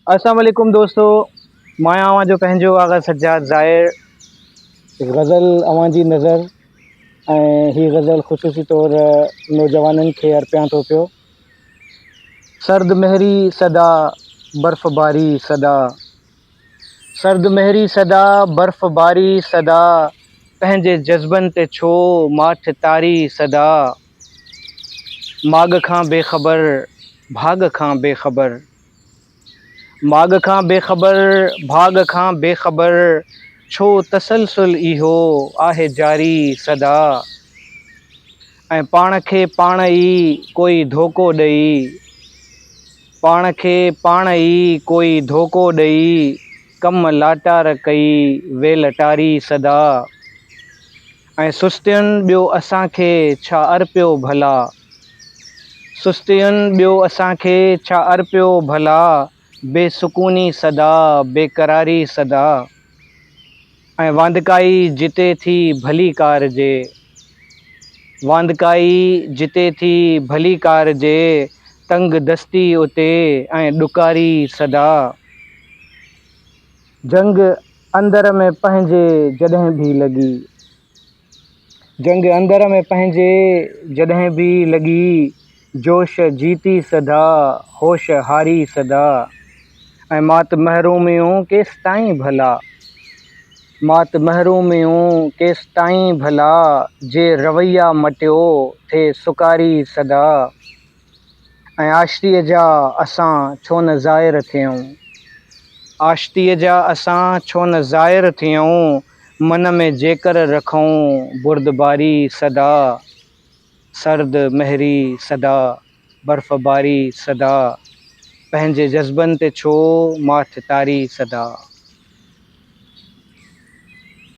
السلام عليڪم دوستو مان آهيان اوهان جو پنهنجو آغا سجاد ظاهر غزل اوهان جي نظر ۽ هي غزل خصوصي طور نوجوانن کي ارپيان ٿو پيو سرد مهري صدا برف باري صدا سرد مهري صدا برف باري صدا پنهنجي جذبن تي ڇو ماٺ تاري صدا ماڳ کان بي خبر، ڀاڳ کان بي خبر. ماڳ کان بي خبر، ڀاڳ کان بي خبر ڇو تسلسل اهو آهي جاري سدا ۽ پاڻ کي پاڻ ئي ڪوئي ڌوڪو ڏئي، پاڻ کي پاڻ ئي ڪوئي ڌوڪو ڏئي ڪم لاٽار ڪئي ويلٽاري سدا. ۽ سستين ٻيو اسان کي ڇا ارپيو ڀلا؟ سستين ٻيو اسان کي ڇا ارپيو ڀلا؟ بي سڪوني سدا، بي قراري سدا، ۽ واندڪائي جتي ٿي ڀلي ڪار جي، واندڪائي جتي ٿي ڀلي ڪار جي، تنگ دستي اتي ۽ ڏڪاري سدا. جنگ اندر ۾ پنهنجي جڏهن ڀي لڳي. جنگ اندر ۾ پنهنجي جڏهن ڀي لڳي، جوش جيتي سدا، هوش هاري سدا، ۽ مات محروميون ڪيستائين ڀلا؟ مات محروميون ڪيستائين ڀلا، جي رويا مٽيو ٿي سڪاري سدا. ۽ آشتيء جا اسان ڇو نه زائر ٿيئون. آشتيء جا اسان ڇو نه زائر ٿيئون، من ۾ جيڪر رکئون بردباري سدا، سرد مهري سدا، برف باري سدا، پنهنجي جذبن تي ڇو ماٺ تاري سدا.